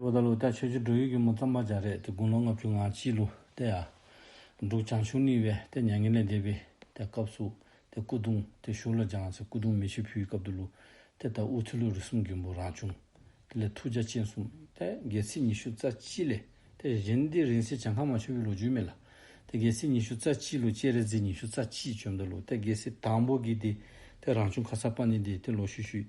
ལོ་ཟླ་ལོ་ཟླ་ཆོས་ཆོས་འབྲུག་ཡུལ་གྱི་མོ་རྩམ་པ་འཇའ་རས་ཏེ་དགུང་ལོ་ལྔ་བཅུ་ང་གཅིག་ལོ་སྟེ་ཨ། འབྲུག་བྱང་ཆུང་ནི་བས་ཏེ་མྱ་ངན་ལས་འདས་པའི་ཏེ་སྐབས་སུ་ཏེ་སྐུ་གདུང་ཏེ་བཞུགས་ལ་འཇང་ཚེ་སྐུ་གདུང་མི་ཕྱེད་ཕུའི་སྐབས་དུ་ལུ་ཏེ་ད་དབུ་ཚེ་ལུ་རི་གསུམ་གྱི་འབུ་རང་བྱུང་ཏེ་ལས་ཐུགས་རྒྱ་ཅན་གསུམ་ཏེ་རྒྱལ་ཚིགས་ཉི་ཤུ་རྩ་གཅིག་ལས་ཏེ་གཞན་ཏེ་རིང་བསྲེལ་བྱང་ཁ་མ་ཆོད་པའི་ལོ་རྒྱུས་མེད་ལ་ཏེ་རྒྱལ་ཚིགས་ཉི་ཤུ་རྩ་གཅིག་ལུ་སྤྱན་རས་གཟིགས་ཉི་ཤུ་རྩ་གཅིག་བྱོན་ཏེ་ལུ་ཏེ་རྒྱལ་སྲིད་དང་པོ་གི་ཏེ་ཏེ་རང་བྱུང་ཁ་ཚར་པ་ནི་ཏེ་ཏེ་ལོ་ཤུད་ཤུད་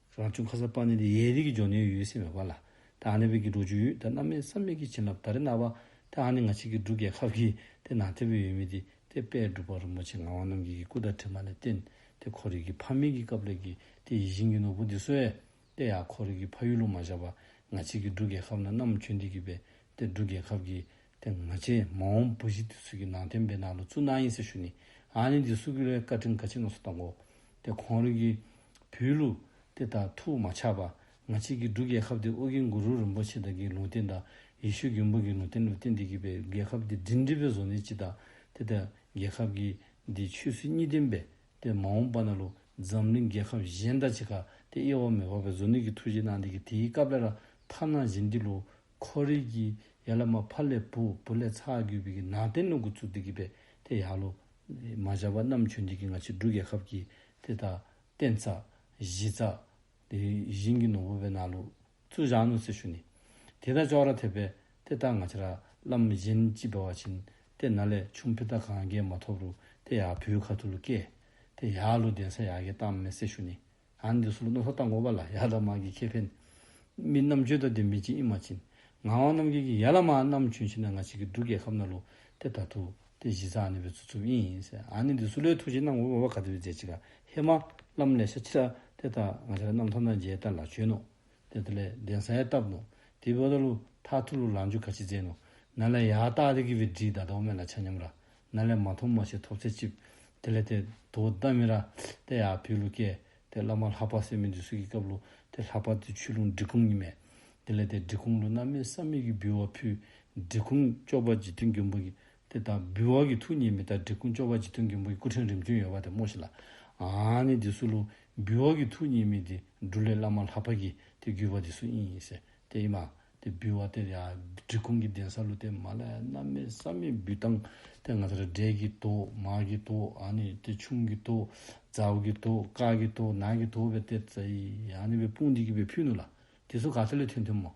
རང་བྱུང་ཁ་ཟས་སྤང་ནི་འདི་ཡའི་རིགས་ཀྱི་འབྱོར་ནུས་ཡོད་སྲིད་མོད་པ་ལ། ད་ཧ་ནི་བོད་ཀྱི་འབྲོག་ཆུའི་ཡུལ་ད་སྣ་མའི་ས་མིག་གི་བྱིན་རླབས་ད་རི་ན་བ། ད་ཧ་ནི་ང་ཕྱིས་ཀྱི་འབྲུག་རྒྱལ་ཁབ་ཀྱི་དེ་ནང་ཐེ་བོའི་ཡུལ་མི་དེ་དེ་དཔལ་སྒྲུབ་པ་རིན་པོ་ཆེ་ངག་དབང་རྣམ་རྒྱལ་གྱི་སྐུ་དང་གྲིབ་མ་ལས་བརྟེན་ཏེ་ཁོར་ཡུག་གི་ཕ་མེས་ཀྱི་སྐབས་ལས་ཀྱི་དེ་ཡིད་བཞིན་གྱི་ནོར་བུ་འདི་གསོལ། དཔེ་ཡག་ཁོར་ཡུག་གི་ཕ་ཡུལ་ལུང་མ་བཞག་པ་ང་ཕྱིས་ཀྱི་འབྲུག་རྒྱལ་ཁབ་ན་གནམ་ཁྱོད་འདི་གྱིས་པས་དེ་འབྲུག་རྒྱལ་ཁབ་ཀྱི་དེ་མ་བྱས་མ་འོངས་བུ་བཞི་དེ་སུ་གི་ནང་དོན་སྤེལ་ན་ལོ་ཙུ་ན་ཡིན་ཟེར་ཞུ་ནི་ཨ་ནི་དེ་སུ་གི་ལོའི་བཀའ་ཁྲིམས་ག་ཅིག་ནོར་སོ་གཏོང་གོ། དེ་གོང་རིགས་ཀྱི་བུའི་ལུགས་དེ་དག་ཐུགས་མ་ཆགས་པ་ང་བྱེད་ཀྱི་འདུག་རྒྱལ་ཁབ་དེ་དབུ་གི་འགུ་རུ་རིན་པོ་ཆེ་དག་གི་ལུང་བསྟན་དང་ཡེ་ཤུ་གྱི་འབུ་གི་ལུང་བསྟན་ལུས་བསྟན་འདི་གི་པའི་རྒྱལ་ཁབ་དེ་འབྲིང་འབྲིང་པའི་བཟོ་ནི་ཅི་དང་དེ་དག་རྒྱལ་ཁབ་གི་དེ་ཆོས་སྲིད་གཉིས་ལྡན་པའི་དེ་མ་འོངས་པ་ན་ལོ་འཛམ་གླིང་རྒྱལ་ཁབ་གཞན་དག་ཅི་ག་དེ་དབྱེ་བ་མི་འཕགས་པའི་བཟོ་ནི་གི་ཐུགས་རྗེ་གནང་འདི་གི་དེའི་སྐབས་ལས་ལ་ཐབས་ནང་བཞིན་འདི་ལོ་ཁོ་རེ་གི་ཡ་ལ་མ་ཕ་ལས་བུ་བུ་ལས་ཚ་གུ་བི་གི་ནང་བསྟན་ལུང་ཁུ་ཚུགས་འདི་གི་པའི་དེ་ཡག་ལོ། མ་བཞག་པ་རྣམ་ཆོས་འདི་གི་ང་ཆི་འབྲུ་རྒྱལ་ཁབ་གི་དེ་དག་བསྟན་ཚ། གཞི་ཚ། དེ་བཞིན་གི་ནོར་བུ་བའི་ནང་ལུག་ཚུགས་བཞག་ནུ་ཚེ་ཤུ་ནི། དེ་དག་ཅོག་ར་ཐེབས་པའི་དེ་དག་ང་ཆི་ར་ལམ་གཞན་ཅི་བེ་བ་བྱིན་ཏེ་ན་ལས་ཆུང་ཕི་ཏག་གང་རྒྱལ་མ་ཐོབ་རུ་དེ་ཡག་བུའི་ཁ་ཐུ་ལུ་སྐད་དེ་ཡག་ལུ་བདེན་ས་ཡག་གི་གཏམ་མེ་ཚེ་ཤུ་ནི། ཡང་འདི་གསུངས་ན་ལྷོ་དང་ངོ་བ་ལ་ཡར་ལ་མ་གི་ཁེ་ཕན། མི་རྣམས་བཅོས་ད་དེ་མི་བྱིན་ཨི་མ་བྱིན། ངག་དབང་རྣམ་རྒྱལ་གྱིས་ཡར་ལ་མ་རྣམས་བྱོན་ཕྱིན་ན་ང་ཅིག་གི་འབྲུག་རྒྱལ་ཁབ་ན་ལོ་དེ་ད་ཐུག་དེ་གཞི་རྩ་ནི་བོད་ཚུ་ཚུབ་ཨིན་ཡིན་སེ་ཨ་ནི་འདི་སུ་ལའི་ཐུགས་བྱིན་ན་ངོ་བོ་བ་ག་དེ་བའི་རྫས་ཅིག་ག་ཧེ་མ་ལམ་ལས་ཤ་ཆི་ར་དེ་ད་ང་ཤ་ར་རྣམས་ཐོབ་ན་མཇལ་ད་ལ་བྱོན་ནོ་དེ་ལྟར་ལས་གདན་སའི་སྟབས་ལོ། དེ་བོ་ད་ལོ་ཐག་ཐུག་ལོ་ལང་རྒྱུ་ག་ཅི་རྩེ་ནོ། ན་ལས་ཡག་རྟགས་རིགས་བི་བྲིས་ད་དོག་མེད་ལ་ཆ་སྙོམས་ར། ན་ལས་མ་མཐོང་མ་ཤེས་ཐོབ་ཚད་ཅིབ། དེ་ལས་དེ་དོ་ད་མི་ར། དེ་ཡག་བུས་ལོ་ཀས། དེ་བླ་མ་ལྷག་པ་སེ་མི་འདི་སུ་གི་སྐབས་ལོ། དེ་ལྷག་པ་དེ་ཆུ་ལུང་འབྲི་གུང་ཉི་མས། དེ་ལས་དེ་འབྲི་གུང་ལོ་ན་མེད་བསམ་མེད་ཀི་བུས་བ་ཕུས། འབྲི་གུང་ཅོག་པ་ཇི་ཐུན་རྒྱུན་བུ་གི། དེ་ལྟར་འབུལ་བ་གྱི་ཐུགས་ཉིད་མི་རྟག་འབྲས་སྐུ་མཆོག་པ་འཇིག་རྟེན་མཁན་པོ་ཡི་སྐུ་ཕྲེང་རིམ་བྱོན་ཡོད་པ་དེ་སྨྲོས་ཤིག་ལ། ཨཱ་ནི་དེ་སུ་ལུ། འབུལ་བ་གྱི་ཐུགས་ཉིད་མི་དེ་འབྲུ་ལས་བླ་མ་ལྷག་པར་གྱིས་དེ་བསྒྱུར་བ་དེ་སུ་ཡིན་ཡིན་ཟེར་དེ་ཨེ་མ། དེ་འབུལ་བ་དེར་ཡང་འབྲི་གུང་གི་གདན་ས་ལུ་ཏེ་མ་ལའི་རྣམ་སྨིན་བསམ་མེད་འབུལ་སྟངས་དེ་ང་ཚོར་འབྲས་ཀྱི་དོ། མ་གི་དོ། ཨཱ་ནི་དེ་ཆུང་གི་དོ། ཛའུ་གི་དོ། ཀ་གི་དོ། ན་གི་དོ་བའི་གཏེར་རྩ་ཡིས་ཨཱ་ནི་བའི་དཔུང་འདི་གྱིས་བའི་ཕུ་ནུ་ལ། དེ་སུ་ག་ཚད་ལས་ཐོན་ཐུན་མོང་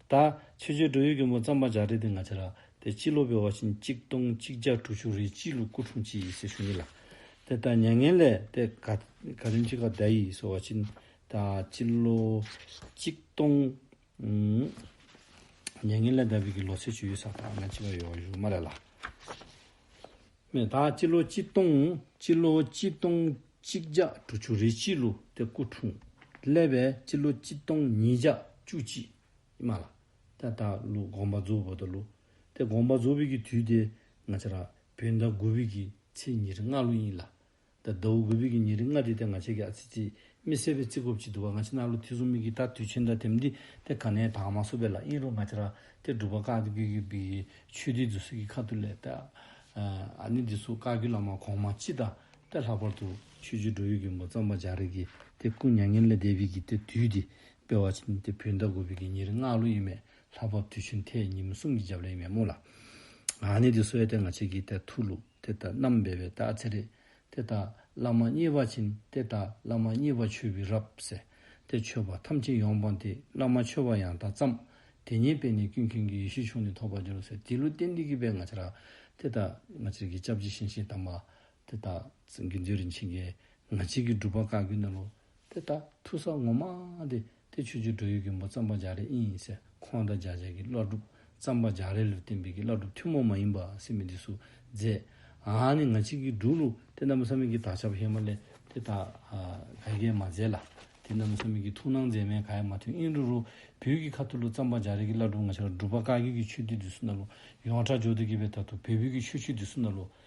ད། ཆོས་རྗེ་སྒྲོལ་ཡུལ་གྱི་མོ་རྩམ་པ་འཇག་འདྲེ་དེ་ང་ཅི་ར་དེ་སྤྱི་ལོ་བའི་བ་ཕྱིན་གཅིག་སྟོང་གཅིག་བརྒྱ་དྲུག་ཅུ་རེའི་སྤྱི་ལོ་སྐུ་འཁྲུངས་སྤྱི་ཡི་སྲས་ཞུ་ཡིན་ལ། དེ་ལྟར་མྱ་ངན་ལས་དེ་ག་ག་རིམ་གཅིག་ག་ད་ཡིས་སོ་བ་ཕྱིན་ད་སྤྱི་ལོ་གཅིག་སྟོང། མྱ་ངན་ལས་ད་བིས་ཀྱི་ལོ་ཚད་ཆུ་ཡོས་ས་ད་ང་ཅི་བ་ཡོ་བ་ཞུ་མ་རེད་ལ། མེ་སྟག་སྤྱི་ལོ་གཅིག་སྟོང། སྤྱི་ལོ་གཅིག་སྟོང་གཅིག་བརྒྱ་དྲུག་ཅུ་རེ་གཅིག་ལུག་སྟེ་སྐུ་འཁྲུངས། ཀླད་པའི་སྤྱི་ལོ་གཅིག་སྟོང་ཉིས་བརྒྱ་བཅུ་གཅིག། ཧི་མ་ལ་ཏཱི་སྟག་ལུག་དགོངས་པ་རྫོགས་བོད་དུ་ལུག་སྟེ་དགོངས་པ་རྫོགས་བོད་ཀྱི་དུས་ཏེ། ང་ཅཱ་ར་བོད་ཟླ་དགུ་བོད་ཀྱི་ཚེས་ཉེར་ལྔ་ལོ་ཡིན་ལ། ད་ཟླ་འུ་གུ་བུད་ཀྱི་ཉིན་རེ་ལྔ་རེ་དེ་ང་བྱས་ཀྱི་ཨ་ཙི་ཙི། མི་གསལ་བའི་རྩི་ཁོབ་ཅིག་འདུག་བ་ང་ཕྱི་ནང་ལོ་ཐི་གསུམ་མིག་གིས་ད་དུས་ཆེན་འདྲ་དེབ་འདི་དེ་ག་ནས་དྭངས་མ་བསུབ་པའི་ལ་ཨིན་རོ་ང་ཅི་ར་དེ་སྒྲུབ་པ་ཀག་དེ་གུ་གུ་བུད་ཀྱི་ཆོས་སྡེའི་རྫུ་སི་གི་ཁ་ཐུ་ལས་ད་ཨ་ནི་འདི་སུ་ཀག་གུ་ལ་མ་གོང་མ་ཅི་ད་དེ་ལྷག་པར་དུ། ཆོས་ཆོས་འགྲོ་ཡུལ་གྱི་མགོ་རྩམ་པ་འཇག་རེ་གི་དེ་སྐུ་མྱ་ངན་ལས་འདས་བུད་ཀྱི་དེ་དུས་དེ་དཔེ་བ་ཅིན་དེ་བུད་ད་གུ་བུད་ཀྱི་ཉིན་རེ་ལྔ་ལོ་ཡིན་མེད་ལྷག་པར་དུས་ཆེན་དེ་ཉིན་མི་གསུམ་གྱི་རྒྱབ་ལ་ཡིན་མེད་མོ་ལ། ང་ནི་དེ་སུ་ཨེ་དེ་ང་བྱས་ཀྱི་དེ་ཐུ་ལུ། དེ་ལྟར་རྣམ་སྦས་པའི་རྟགས་ཚེ་རིག། དེ་ལྟར་བླ་མ་གཉིས་པ་བྱིན་དེ་ལྟར་བླ་མ་གཉིས་པ་མཆོད་པའི་རབ་གསལ། དེ་མཆོད་པ་ཐམས་ཅད་ཡོངས་སྤངས་ཏེ་བླ་མ་མཆོད་པ་ཡང་དག་བརྩམས། དེ་ཉིད་པས་ནི་ཀུན་མཁྱེན་གྱི་ཡེ་ཤེས་ཕྱུང་ནས་ཐོགས་པར་འགྱུར་བ་ཟེར་དེའི་ལུས་རྟེན་འདི་གུས་པས་ང་ཅག། དེ་ལྟར་ང་ཅག་གི་ཅབ་ཅིག་ཤིང་ཤིང་དམ་པ། དེ་ལྟར་དགེ་འདུན་རིན་ཆེན་བརྒྱའི། ང་ཅག་གི་སྒྲུབ་པ་བཀའ་བརྒྱུད་ནི་ལོ། དེ་ལྟར་ཐུག་ས་ངོ་མ་དེ་དེ་ཆོས་རྗེ་འགྲོ་ཡུལ་གྱི་འབོ་རྩམ་པ་འཇག་རེ་ཨིན་ཟེར་ཁོང་དང་འཇག་བྱེད་ཀྱི་བླ་སྒྲུབ་རྩམ་པ་འཇག་རེ་ལུ་བསྟན་འཕེལ་གྱི་བླ་སྒྲུབ་ཐུན་མོང་མ་ཡིན་པ་སྲིད་མི་འདི་སུ་མཛད། ཨ་ནི་ང་ཅིག་གིས་འབྲུག་ལུ་དེ་རྣམ་བསམ་མེད་ཀྱི་དག་ཆ་བ་ཧེ་མ་ལེ་དེ་དག་ག་རྒྱས་མ་མཛད་ལ། དེ་རྣམ་བསམ་མེད་ཀྱི་ཐུགས་སྣང་མཛད་མའི་ག་ཡ་མ་མཐུན་ཨིན་རུ་རུ་བོད་ཀྱི་ཁ་ཐུ་ལུ་རྩམ་པ་འཇག་རེ་གྱི་བླ་སྒྲུབ་ང་ཆ་ལ་སྒྲུབ་པ་བཀའ་རྒྱུད་ཀྱི་ཆོས་སྡེ་འདི་སུ་ན་ལུ་ཡོངས་གྲགས་ཇོ་སྟོད་རྒྱལ་བའི་དར་ཐུག་བལ་བོད་ཀྱི་ཆོས་ཆུ་འདི་སུ་ན་ལུ་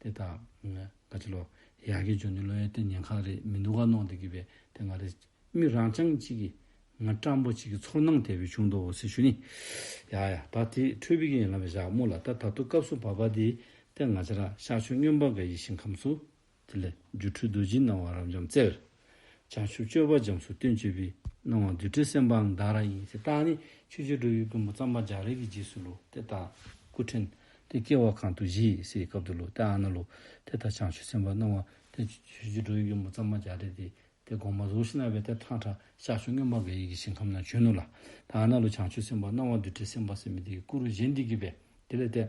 དེ་དག་ག་ཅི་ལོ། ཡག་གི་ཇོ་ནི་ལོ་ཡའི་ཏི་ཉན་ཁག་རེད་མི་འདུག་ག་ནོག་འདི་གི་བས་དེ་ང་རེད། མི་རང་ཅང་གཅིག་གི། ང་སྤྲང་པོ་གཅིག་གི་ཚོར་སྣང་དལ་བུས་བྱུང་འདུག་འོ་སི་ཞུ་ནི། ཡ་ཡ་ད་དེ་འཕྲོས་བི་གི་ཡན་ལམ་བས་བཞག་མོ་ལ་ད་ད་དུ་སྐབས་སུ་བབ་པ་དེ་དེ་ང་ཅི་ར་ཤག་ཆོས་སྨྱོན་པ་འགའ་ཡི་ཞིང་ཁམས་སུ། དེ་ལས། སྒྱུ་འཕྲུལ་རྡོ་རྗེའི་སྣང་བ་རབ་འབྱམས་རྩེར། བྱང་ཆུབ་སྤྱོད་པ་འབྱམས་སུ་སྟོན་བྱེད་པའི། སྣང་བ་རྡུལ་བྲལ་སེམས་དཔའ་འང་བདག་རང་ཡིན། ཞེས་བཏགས་ནས་ཆོས་རྗེ་སྒྲོལ་ཡུལ་མགོན་པོ་བརྩམས་པ་འཇག་རེ་གི་རྗེས་སུ་ལོ་དེ་དག་སྐུ་ཕྲེང་དེ་སྐྱེ་བ་གང་དུ་བཞེས་སའི་སྐབས་དུ་ལོ་དེ་ཨ་ན་ལོ་དེ་དག་བྱང་ཆུབ་སེམས་དཔའ་སྣང་བ་དེ་ཆོས་རྗེ་སྒྲོལ་ཡུལ་མགོན་པོ་བརྩམས་པ་འཇག་རེ་དེ་དེ་དགོངས་པ་གཟུགས་ཤིང་རྣ་བའི་གཏེར་ཁང་གྲགས་ཤར་ཆུ་སྔོན་འབར་ག་ཡིག་གི་ཞིང་ཁམས་ན་བྱོན་ནོ། ལ་དེ་ཨ་ན་ལོ་བྱང་ཆུབ་སེམས་དཔའ་སྣང་བ་རྡུལ་བྲལ་སེམས་དཔའ་སེམས་མེད་དེ་ཀུ་རུ་གཞན་འདུས་ཀྱི་བས་དེ་ལས་འདས།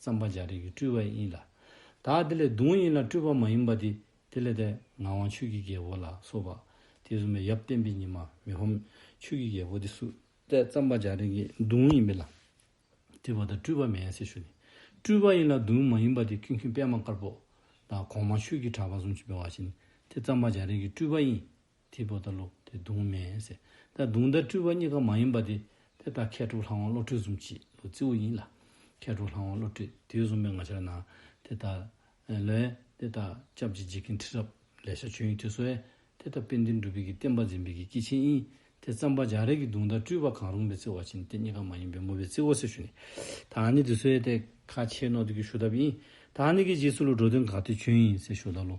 ཙམ་པ་འཇའ་རིས་ཀྱི་སྤྲུལ་བ་ཡིན་ལ། དག་དེ་ལས་གདུང་ཡིན་ལ་སྤྲུལ་པ་མ་ཡིན་པ་དེ་དེ་ལས་འདས། ངག་དབང་ཆོས་ཀྱི་རྒྱལ་པོ་ལ་སོགས་པ། དེ་གསུམ་པའི་ཡབ་བསྟན་པའི་ཉི་མ་མི་ཧོམ། ཆོས་ཀྱི་རྒྱལ་པོ་དེ་སུ། ལྟས་ཙམ་པ་འཇའ་རིས་ཀྱི་གདུང་ཡིན་པས་ལ། དེ་བ་དང་སྤྲུལ་པ་མེད་ཟེར་ཞུ་ནི། སྤྲུལ་པ་ཡིན་ལ་གདུང་མ་ཡིན་པ་དེ་ཀུན་མཁྱེན་པད་མ་དཀར་པོ། དང་གོང་མ་ཆོས་ཀྱི་གྲགས་པ་གསུང་ཆེན་པའི་བ་བཞིན། དེ་ཙམ་པ་འཇའ་རིས་ཀྱི་སྤྲུལ་བ་ཡིན། དེའི་བུ་དང་ལོ་དེ་གདུང་མེ་ཟེར། ད་གདུང་དང་སྤྲུལ་བ་གཉིས་ཀ་མ་ཡིན་པ་དེ། དེ་ད་མཁས་གྲུབ་ལྷ་དབང་བློ་གྲོས་གསུམ་གྱིས་ལོ་རྩིས་བོ་ཡིན་ལ། མཁས་གྲུབ་ལྷ་དབང་བློ་གྲོས་དུས་གསུམ་པའི་ང་ཆར་ན། དེ་ད། ལོའི། དེ་ད། སྐྱབས་ཀྱི་འཇིག་རྟེན་ཁྲི་རབས། ལས་ཤར་ཆོས་དབྱིངས་ཐུགས་སྲོལ། དེ་ད་དཔལ་ལྡན་སྒྲུབ་པའི་གི་བསྟན་པ་འཛིན་པའི་གི་སྐྱེས་ཆེན་དབྱིངས། དེ་བརྩམ་པ་འཇག་རལ་གྱི་གདུང་དང་སྤྲུལ་བ་གང་རུང་བའི་རྩིས་བ་ཕྱིན་ཏེ་གཉིས་ཀ་མ་ཡིན་པའི་མུ་བའི་རྩིས་བོ་ཟེར་ཞུ་ནི། ད་ཨ་ནི་དུས་སྲོལ་ཏེ། ཁ་ཆེའི་ནོར་དུ་གི་ཞུ་ཐབས་དབྱིངས། ད་ཨ་ནི་གི་རྗེས་སུ་ལོ་འགྲོ་དོན་ག་དུས་ཆོས་དབྱིངས་ཟེར་ཞུ་ད་ལོ།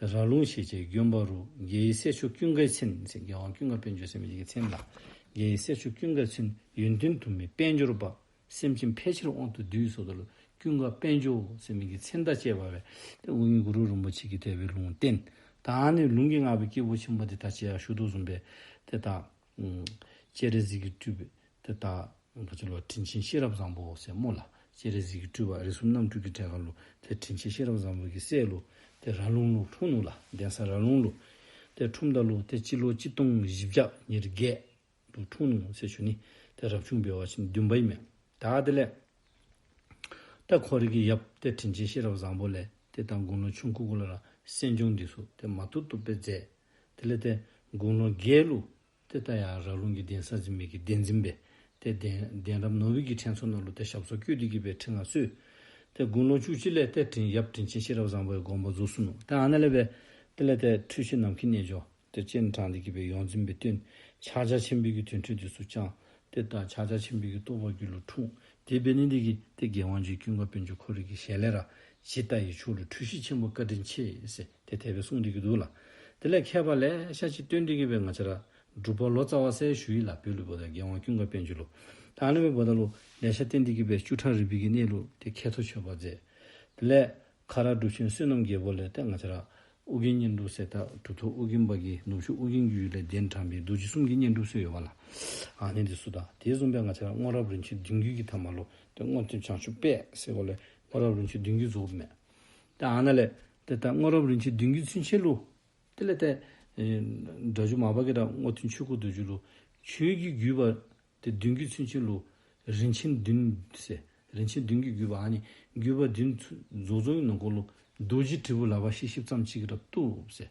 ར་ལུང་ཞེས་བྱའི་རྒྱུན་བ་རུ་རྒྱའི་སྲས་ཆུ་ཀུན་དགའི་ཚུན་ཅེས་རྒྱལ་དབང་ཀུན་དགའ་དཔལ་འབྱོར་སེམས་ཅན་གྱི་ཚེ་འདས། རྒྱའི་སྲས་ཆུ་ཀུན་དགའི་ཚུན་ཡོན་ཏུན་དུ་མས་དཔལ་འབྱོར་པ། སེམས་ཅན་ཕལ་ཆེར་དབང་དུ་བསྡུས་སོ་དོར་ཀུན་དགའ་དཔལ་འབྱོར་སེམས་ཅན་གྱི་ཚེ་འདས་བཅས་པ་བས་ཏེ་དབུ་སྙུག་གུ་རུ་རིན་པོ་ཆེ་ཀྱིས་དད་པའི་ལུང་བསྟན། དང་ནི་ལུང་གི་བསྔགས་པའི་སྐྱེས་བུ་ཆེན་པོ་དེ་དག་ཅེས་ཤུགས་ཏུ་གསུངས་པས་དེ་དག། སྤྱན་རས་གཟིགས་ཀྱི་སྤྲུལ་པའི་དེ་ལྟ། བུ་ཚེ་ལོ་དྲིན་ཆེན་ཤེས་རབ་བཟང་པོ་སྲས་མོ་ལ། སྤྱན་རས་གཟིགས་ཀྱི་སྤྲུལ་པ་རིགས་གསུམ་རྣམ་སྤྲུལ་གྱི་གྲལ་ག་ལུ། དེར་དྲིན་ཆེན་ཤེས་རབ་བཟང་པོ་ཀྱི་སྲས་ཀླུ། དེར་ར་ལུང་ཀླུ་འཁྲུངས་ནུ་ལ་གདན་ས་ར་ལུང་ཀླུ། དེར་ཁྲུམས་ཟླ་ཀླུ་དེ་སྤྱི་ལོ་གཅིག་སྟོང་བཞི་བརྒྱ་ཉེར་བརྒྱད། དུ་འཁྲུངས་ནུ་སྲས་བཅུ་ནི། དེར་རབ་བྱུང་བེ་བ་ཆེན་བདུན་པ་ཡི་མེ། ད་དེ་ལས། ཏཱ་ཁོ་རིགས་ཀྱི་ཡབ། དེར་དྲིན་ཆེན་ཤེས་རབ་བཟང་པོ་ལས། དེ་ལྟར་དགུང་ལོ་ཆུང་ཁུ་དགུ་ལ་ར། སྲས་འབྱུང་འདི་སོགས་དེ་མ་ཐུག་ཏུ་དཔེ་མཛད། དེ་ལས་ཏེ་དགུང་ལོ་བརྒྱད་ལུགས། དེ་ལྟ་ཡང་རག་ལུང་གི་གདན་ས་འཛིན་མེད་ཀྱི་གདན་འཛིན་པས་དེ་གདན། གདན་རབས་ནོར་བུའི་གི་ཕྲེང་ཚོགས་སྣ་ལུ་སྟེ་ཞབས་སོར་བསྐྱོད་བདུད་རྒྱུད་པའི་ཕྲེང་ལ་སུས། དེ་དགུང་ལོ་བཅུ་གཅིག་ལས་ཏེ་དྲིན་གཡབ་དྲིན་ཆེན་ཤེས་རབ་བཟང་པོའི་དགོངས་པ་རྫོགས་སུ་གནང། དེ་ཨ་ན་ལས་པས། དེ་ལས་ཏེ་འཁྲུལ་ཤེས་ནམ་མཁའི་རྣལ་འབྱོར། དེ་སྤྱན་དྲངས་ཏེ་བགྱིས་པའི་ཡོངས་འཛིན་པའི་བསྟོད། ཕྱག་རྒྱ་ཆེན་པོའི་གི་དོན་འཕྲོས་དུས་སུ་བསྐྱངས། དེ་ལྟར་ཕྱག་རྒྱ་ཆེན་པོའི་གི་རྟོགས་པ་རྒྱུད་ལ་འཁྲུངས། དེའི་དཔེ་ནི་འདི་གི། དེ་རྒྱལ་དབང་ཇོའི་དཀྱུས་མཁར་དཔོན་ཆེན་འཁོར་རིགས་ཀྱི་ཞལ་ལས་ར། ཇི་ལྟ་ཡི་ཕྱོགས་ལས་འཁྲུལ་ཤེས་ཆེན་པོ་བཀའ་དྲིན་ཆེ། དེ་དད་པའི་གསུང་འདི་གྱུར་འདུག་ལ། དེ་ལས་མཁས་པ་ལས་ཤ་ཆེ་བསྟོད་འདི་གྱུར་པའི་ང་ཅི་ར། སྒྲུབ་པོ་ལོ་ཙཱ་བ་སའི་ཞུ་ཡིག་ལ་བོད་ལུགས་བོ་ད་རྒན་དབང་ཀུན་དགའ་དཔལ་འཇུ་ལུགས། དང་གླིང་བའི་བོ་ད་ལུགས་ལས་ཤ་བསྟོད་འདི་གྱུར་པའི་བཅུ་ཕྲག་རིལ་བུ་གྱི་གནས་ལུགས་དེ་མཁས་མཐོ་ཆོས་པར་མཛད། དེ་ལས། ཁ་ར་སྒྲུབ་ཆེན་བསོད་ནམས་རྒྱལ་པོ་ལས་ལྟས་ང་ཅི་ར། ཨོ་རྒྱན་བསྙེན་སྒྲུབ་གསེར་ཐག་གྲུབ་ཐོབ་ཨོ་རྒྱན་པ་ཀྱིས་ནུབ་ཕྱོགས་ཨོ་རྒྱན་རྒྱུད་ལས་གདན་དྲངས་པའི་རྡོ་རྗེ་གསུམ་གྱི་བསྙེན་སྒྲུབ་སྲོལ་ཡོད་པ་ལ། གནས་འདི་སུ་དང་དེའི་གསུངས་པའི་ང་ཅི་ར་སྔོན་རབས་རིན་ཆེན་བདུན་བརྒྱུད་ཀྱི་ཐ་མ་ལོ་སྟོད་སྔོ་ལྟེམ་བྱང་ཆུབ་དཔལ་སེ་གོ་ལའི་སྔོན་རབས་རིན་ཆེན་བདུན་བརྒྱུད་རྫོགས་པ་མེད། དེའང་ན་ལས། དེ་ལྟར་སྔོན་རབས་རིན་ཆེན་བདུན་བརྒྱུད་ཚུན་ཆད་ལུགས། དེ་ལས་ཏེ། འདྲ་བཅུ་མ་པ་ཀེ་དགྲ་བསྔོ་ཐུན་ཆོས་སྐུ་དུ་བཅུ་ལུགས། ཆོས་བརྒྱུད་བརྒྱུད་པ། དེ་བདུན་བརྒྱུད་ཚུན་ཆད་ལུགས། རིན་ཆེན་བདུན། ཟེར། རིན་ཆེན་བདུན་གྱི་བརྒྱུད་པའང་ནི། བརྒྱུད་པ་བདུན། རྫོགས་ཚོགས་ཀྱི་ནང་སྐོར་ལུགས། རྡོ་རྗེ་དྲིལ་བུ་ལ་བ་ཤེས་བཞི་བརྩམས་གཅིག་གི་རབ་ཏུ། ཟེར།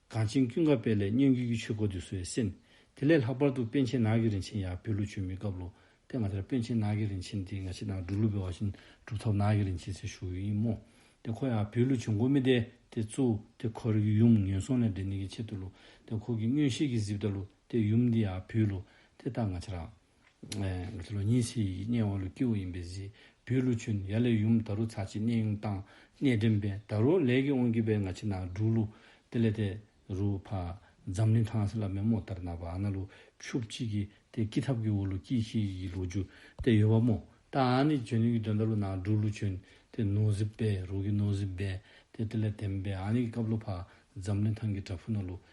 གངས་ཅན་ཀུན་དགའ་དཔལ་ལས་སྙན་བརྒྱུད་ཀྱི་ཆོས་སྐོར་འདི་གསོལ་བས་སེམས། དེ་ལས་ལྷག་པར་དུ་པཎ་ཆེན་ནགས་ཀྱི་རིན་ཆེན་ཡང་བོད་ལུགས་ཆོས་མི་སྐབས་ལོ་དེ་ང་དེར་པཎ་ཆེན་ནགས་ཀྱི་རིན་ཆེན་དེ་ང་ཕྱི་ནང་འགྲོ་ལུགས་པའི་བ་བཞིན་སྒྲུབ་ཐབས་ནགས་ཀྱི་རིན་ཆེན་ཟེར་ཞུ་ཡི་ཡིན་མོ། དེ་ཁོ་ཡང་བོད་ལུགས་ཆོས་མགོ་མི་དེ་དེ་གཙོ། དེ་ཁོ་རེ་གི་ཡུམ་ངན་སོང་ལས་འདས་ནི་གི་ཆེད་དུ་ལོ། དེ་ཁོ་གི་སྔོན་གཤེགས་ཀྱི་གཟིབ་ལྟ་ལོ་དེ་ཡུམ་འདི་ཡང་བོད་ལོ། དེ་ལྟར་ང་ཕྱི་རང། ལོ་ཉིས་ཤས་ཡིག་རྙིང་དབར་ལོ་སྐྱིད་བོ་ཡིན་པའི་གཟིགས་བུའི་ལོ་ཆུ་ནི་ཡ་ལས་ཡུམ་ད་རུ་ཚ་ཆེ་གནས་དབྱུང་བཏང་གནས་འདྲེན་པས་ད་རུ་ལས་ཀྱི་དབང་གིས་པའི་ང་ཆེ་ན་འབྲུག་ལོ་དེ་ལས་དེ་རུ་ཕ་འཛམ་གླིང་ཐང་སེ་ལ་མེ་མོ་ལྟར་ནག་པ་ཨ་ན་ལོ་ཆུ་གཅིག་གིས་དེ་སྐྱིད་ཐབས་ཀྱི་བོ་ལོ་སྐྱིད་ཤེས་ཡི་གི་ལོ་རྒྱུ་དེ་ཡོད་པ་མོ་ད་ཨ་ནི་བྱོན་ནི་གི་དོན་ད་རུ་ནག་འབྲུག་ལོ་ཆུ་དེ་ནོ་ཟི་པའི་རུ་གི་ནོ་ཟི་བས་དེ་དེ་ལས་དེམ་པས་ཨ་ནི་གི་སྐབས་ལོ་ཕ་འཛམ་གླིང་ཐང་གི་བྲག་ཕུ་ན་ལོ་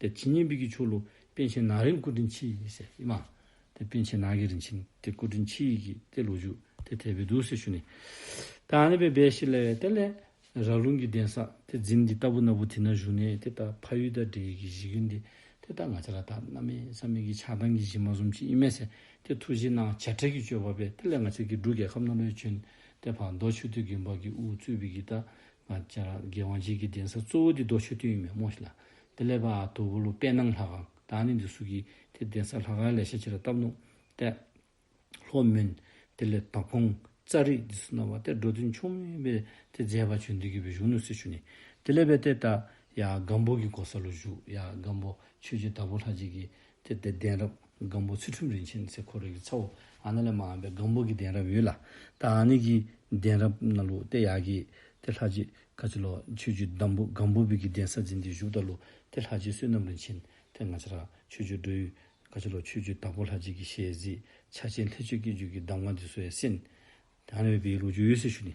དེ་ཇི་སྙེད་འབིགས་ཀྱི་ཆོ་ལོ། དཔལ་ཆེན་ནག་རིན་སྐུ་དྲིན་ཆེ་ཡིས་བསད། ཨེ་མ། དེ་དཔལ་ཆེན་ནག་གི་རིན་ཆེན་དེ་སྐུ་དྲིན་ཆེ་ཡིས་ཀྱིས་ཏེ་ལོ་ཞུགས་དེ་དད་པའི་བདུད་སེལ་ཞུ་ནས། ཏེ་ཨ་ནེ་པའི་སྦས་ཤིག་ལ་བས་ཏེ་ལས། རགས་རླུང་གི་གདན་ས་དེ་འཛིན་འདི་ལྟ་བུ་ན་བུ་དེ་ན་བཞུགས་ནས་དེ་ལྟར་ཕ་ཡུལ་དང་འདྲེ་ཡུལ་གྱི་གཞི་ཀུན་དེ་དེ་ལྟར་ང་ཅི་ར་དག་ན་མེད་ས་མེད་ཀྱི་ཆགས་སྡང་གི་གཞི་མ་གསུམ་ཅི་ཨི་མེད་ཟེར་ཏེ་ཐུགས་གཞི་སྣང་བྱེ་བྲག་གི་སྤྱོད་པ་བས་ཏེ་ལས་ང་ཅག་གི་འབྲུག་རྒྱལ་ཁབ་ན་ལོའི་ཆུན་ཏེ་བར་མདོ་ཆུ་སྟོད་ཀྱི་འབག་གི་དབུ་གཙུག་བི་གི་ཏཱ་ང་ཅག་རྒྱལ་དབང་རྗེས་ཀྱི་གདན་ས་གཙོ་བོ་འདི་རྡོ་ཆོས་དུས་ཡུན་མེད་མོ་ཞིག་ལ་དེ་ལས་པ་ཨ་དོ་བོ་ལུ་དཔལ་སྣང་ལྷ་ཁང་དང་ནི་འདི་སུ་གིས་དེ་གདན་ས་ལྷ་ཁང་ལས་ཤ་ཆེ་ར་བཏབ་ནོ། ཏེ། ལྷོ་སྨོན། དེ་ལས་དྭགས་ཕུང། ཙཱ་རི་འདི་སུ་གནང་བ་སྟེ་འགྲོ་དོན་ཆུང་མིན་པས་དེ་མཛད་པ་བྱོན་དུས་ཀྱི་བོད་གཞུང་ནུ་སི་ཆུ་ནི། དེ་ལས་པས་ཏེ་ཏཱ། ཡ། སྒམ་པོ་གི་གོ་ས་ལུ་བཞུགས་ཡ། སྒམ་པོ། ཆོས་རྗེ་དྭགས་པོ་ལྷ་རྗེས་ཀྱི་དེ་ལྟའི་གདན་རབས་སྒམ་པོ་ཚུལ་ཁྲིམས་རིན་ཆེན་ཚེ་འཁོར་རིགས་ཀྱི་ཚ་བོ་ཨ་ན་ལས་མ་འམ་པའི་སྒམ་པོ་གི་གདན་རབས་ཡོད་ལ། ད་ཨ་ནི་གི་གདན་རབས་ན་ལུགས་ཏེ་ཡག་གི། དེ་ལྷ་རྗེ་ཁ་ཆེ་ལོ་ཆོས་རྒྱུད་བདམས་པོ་སྒམ་པོ་བི་གི་གདན་ས་འཛིན་དེ་བཞུགས་ད་ལུགས་ཏེ་ལྷ་རྗེ་བསོད་ནམས་རིན་ཆེན་དེ་ང་ཆ་ར་ཆོས་རྒྱུད་འགྲོ་ཡུལ། ཁ་ཆེ་ལོ་ཆོས་རྒྱུད་དྭགས་པོ་ལྷ་རྗེ་གི་ཞལ་གཟིགས་ཕྱག་ཆེན་ལྷས་ཆོས་སྐད་རྒྱུད་ཀྱི་གདམས་ངག་འདི་གསོལ་བས་ཟིན། དེ་ཨ་ན་བི་གི་ལུགས་ཆོས་ཡོད་སྲི་ཞུ་ནི།